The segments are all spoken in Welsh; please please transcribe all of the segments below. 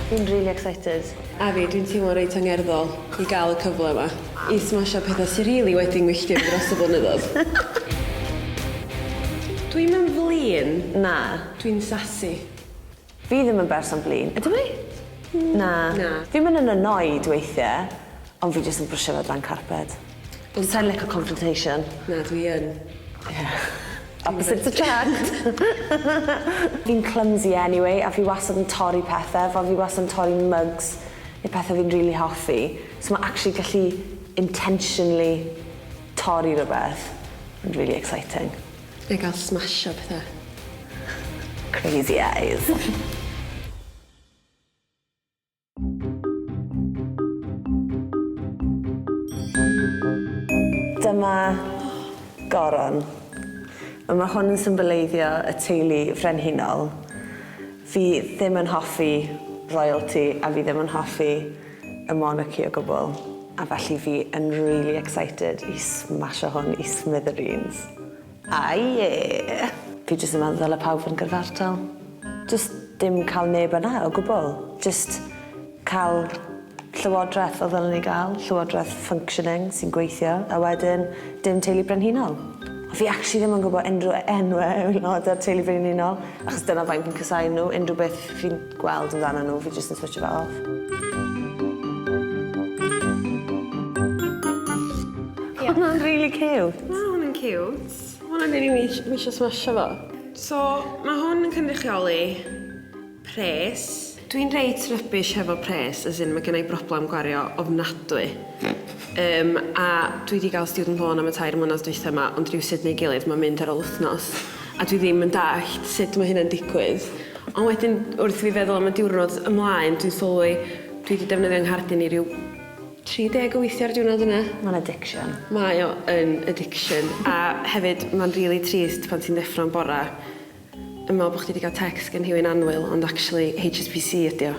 Fi'n rili excited. A fi, dwi'n teimlo reit angerddol i gael y cyfle yma i smasho petha sy rili wedi 'ngwylltio fi dros y blynyddodd. Dwi'm yn flin, na, dwi'n sassy. Fi ddim yn berson blin, ydw i? Na. Na. Fi'n myn' yn annoyed weithie, ond fi jyst yn brysio fe dran carped. Dwi sai'n lico confrontation. Na, dwi yn. Ie. Opposite attract. Fi'n clumsy anyway a fi wastad yn torri pethe, fel fi wastad yn torri mugs ne' pethe fi'n rili hoffi, so ma' actually gallu intentionally torri rwbeth yn rili exciting. Neu gael smasho petha. Crazy eyes. Dyma Goron. Wel ma' hwn yn symboleiddio y teulu frenhinol. Fi ddim yn hoffi royalty a fi ddim yn hoffi y monarchy o gwbl a felly fi yn really excited i smasho hwn i smithereens. A ie! Fi jyst yn meddwl ddyla pawb fod yn gyrfartal. Jyst dim cael neb yna o gwbl. Jyst cael llywodraeth fel ddylwn ni gael, llywodraeth functioning sy'n gweithio a wedyn dim teulu brenhinol. Fi actually ddim yn gwbo unrhyw e- enwe o aelode o'r teulu brenhinol achos dyna faint fi'n casáu nhw unrhyw beth fi'n gweld amdano nhw, fi jyst yn switcho fe off. Ie. Hwnna'n rili ciwt. Mae hwn yn ciwt. Mae hwnna'n rili mis- mi eisiau smasho fo. So, mae hwn yn cynrychioli pres. Dwi'n reit rubbish hefo pres, as in mae gen i broblem gwario ofnadwy. Um, a dwi wedi cael student loan am y tair mlynedd dwytha yma, ond rhywsut neu gilydd mae'n mynd ar ôl wythnos. a dwi ddim yn dallt sut mae hynna'n digwydd. Ond wedyn wrth i fi feddwl am y diwrnod ymlaen dwi'n sylwi dwi 'di defnyddio 'nghardyn i ryw 30 o weithiau ar diwrnod yna. Mae'n addiction. Mae o yn addiction a hefyd mae'n rili trist pan ti'n ddeffro'n bora yn meddwl bo' chdi 'di ga'l text gen rhywun annwyl ond actually HSBC ydi o.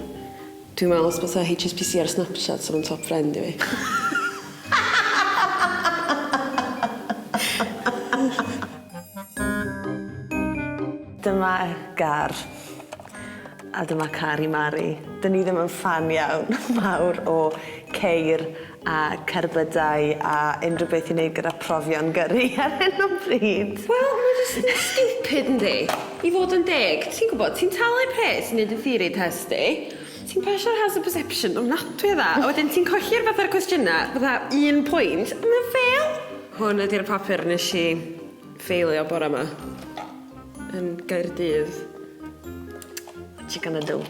Dwi'n meddwl os bysa HSBC ar Snapchat sa nhw'n top friend i fi. Dyma gar. A dyma car i Mari. 'Dyn ni ddim yn ffan iawn mawr o ceir a cerbydau a unrhyw beth i neud gyda profion gyrru ar hyn o bryd. Wel ma' jyst yn stupid yndi? I fod yn deg. Ti'n gwbod ti'n talu pres i neud y theory test di ti'n pasio'r hazard perception ofnadwy o dda a wedyn ti'n colli'r fatha'r cwestiyna fatha un pwynt a ma'n fail! Hwn ydi'r papur nesh i ffeilio bora 'ma yn Gaerdydd. Chicken a do.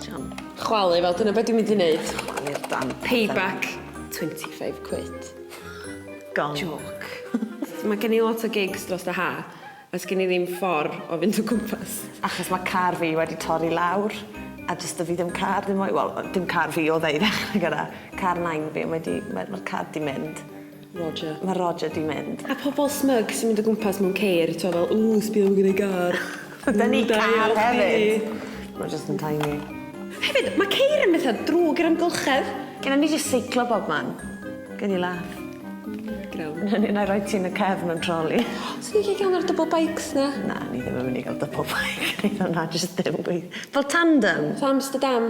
Jam. Chwalu fel dyna be' dwi'n mynd i neud. Chwalu'r damp allan. Pay back twenty five quid. Gone. Jôc. Ma' gen i lot o gigs drost y Ha a sgin i ddim ffor o fynd o gwmpas. Achos ma' car fi wedi torri lawr a do's 'da fi ddim car ddim mwy wel yy dim car fi odd e i ddechre gyda. Car nain fi a mae 'di ma' ma'r car 'di mynd. Roger. Mae Roger 'di mynd. A pobl smug sy'n mynd o gwmpas mewn ceir t'o' fel ww sbia ma' gen i gar. Gyda ni car hefyd. Mae jyst yn tiny. Hefyd mae ceir yn betha drwg i'r amgylchedd. Gynna ni jyst seiclo bobman. Gei di laff. Grawn. Na ni nai roi ti yn y cefn mewn troli. Swn i'n licio un o'r double bikes na. Na ni ddim yn myn' i ga'l double bike. Na jyst dim gweith- fel tandem. Fatha Amsterdam.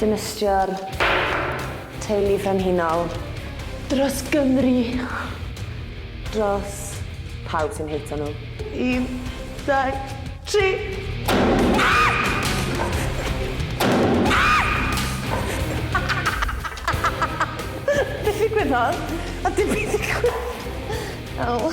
Dinistrio'r Teulu Frenhinol. Dros Gymru. Dros pawb sy'n hato nhw. Un, dau, tri! Be ddigwyddodd? A dim byd digwydd. O.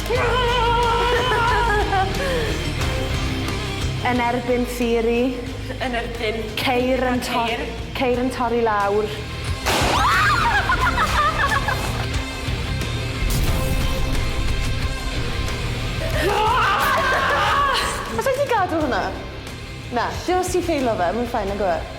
Yn erbyn theori. Yn erbyn... Ceir yn to- ceir yn torri lawr. Allai di gadw hwnna? Na, dim os ti'n ffeilo fe, ma'n fine nagyw e?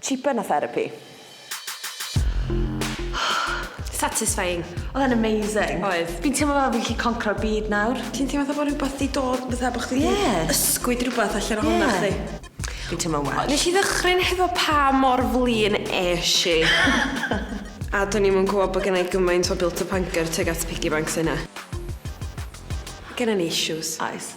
Cheaper na therapi. Satisfying. Oedd e'n amazing. Oedd. Fi'n teimlo fel fi'n gallu concro'r byd nawr. Ti'n teimlo fatha bod rhywbeth di dod, fatha bod chdi di ysgwyd rhywbeth allan ohono chdi. Fi'n teimlo'n well. Nes i ddychryn hefo pa mor flin esh i. A do'n i'm yn gwybod bod gennau gymaint o built-up anger tuag at piggy banks yna. Gennyn ni issues. Oes.